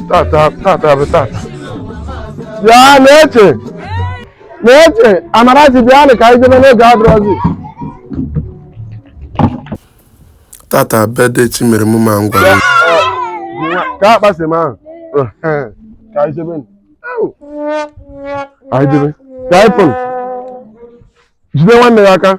tata tata bụ tata bịa na-eche na-eche amarachi bịanụ ka anyị jebe na oge adịrọzi tata birthday chimeremụmma ngwa ka akpasị m ahụ ka anyị jebe anyị jebe ka anyị pụrụ jide nwanne ya aka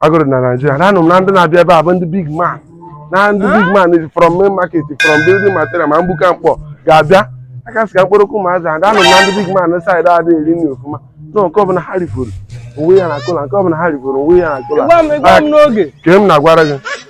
agụrụ dị na Naịjirịa na anụ m na ndị na-abịa ebe a bụ ndị big man na ndị big mans from main market from building material ma mgbuka Nkpor ga-abịa aka sị ka mkpụrụ okwu ma azụ ada anụ m na ndị big mans adị adị eri nri ọfụma na nke ọbụla ha rifọrọ onwe ya na cooler nke ọbụla ha rifọrọ onwe ya na cooler Gwa m gwa m n'oge. ka m na-agwara gị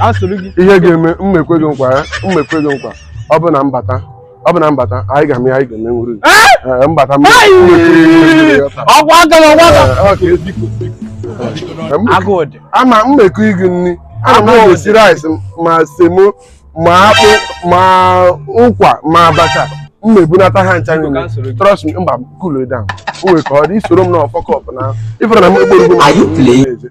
asụrụ gị ihe ga-eme m ekwe gị nkwa ya m ekwe gị nkwa ọ bụ na m bata ọ bụ na m bata anyị ga-eme ya anyị ga-eme nwuru Ee, mbata m Ai! ọgwụ aka na ọgwụ aka Ee, ọ ka ezi ka osi. Ee, m- agụụ dị ama mmekọ igi nri ana m Agụụ esi rice ma semo ma akpụ ma ụkwa ma abacha m na-ebunata ha ncha niile trust me mba cool it down o nwere ka ọ dị i soro m na fuck up na ị fụrụ na m ekporo Are you playing?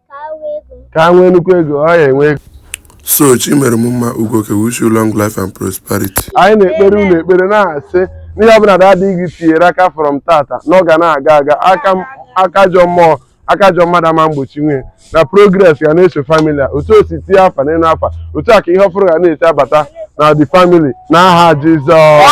ka nwee nnukwu ego ọ ya enwe ego so chimeremmma ugo ke wish you long life and prosperity anyị na-ekpere unu ekpere na-asị n'ihe ọbụla daddy gị tinyere aka from tata na ọ ga na-aga aga aka ajọ mmụọ aka ajọ mmadụ ama mgbochinwu ya na progress ga na-eso family a otu o si tinye afa n'elu afa otu a ka ihe ọfụrụ ga na-esi abata na the family n'aha Jizọs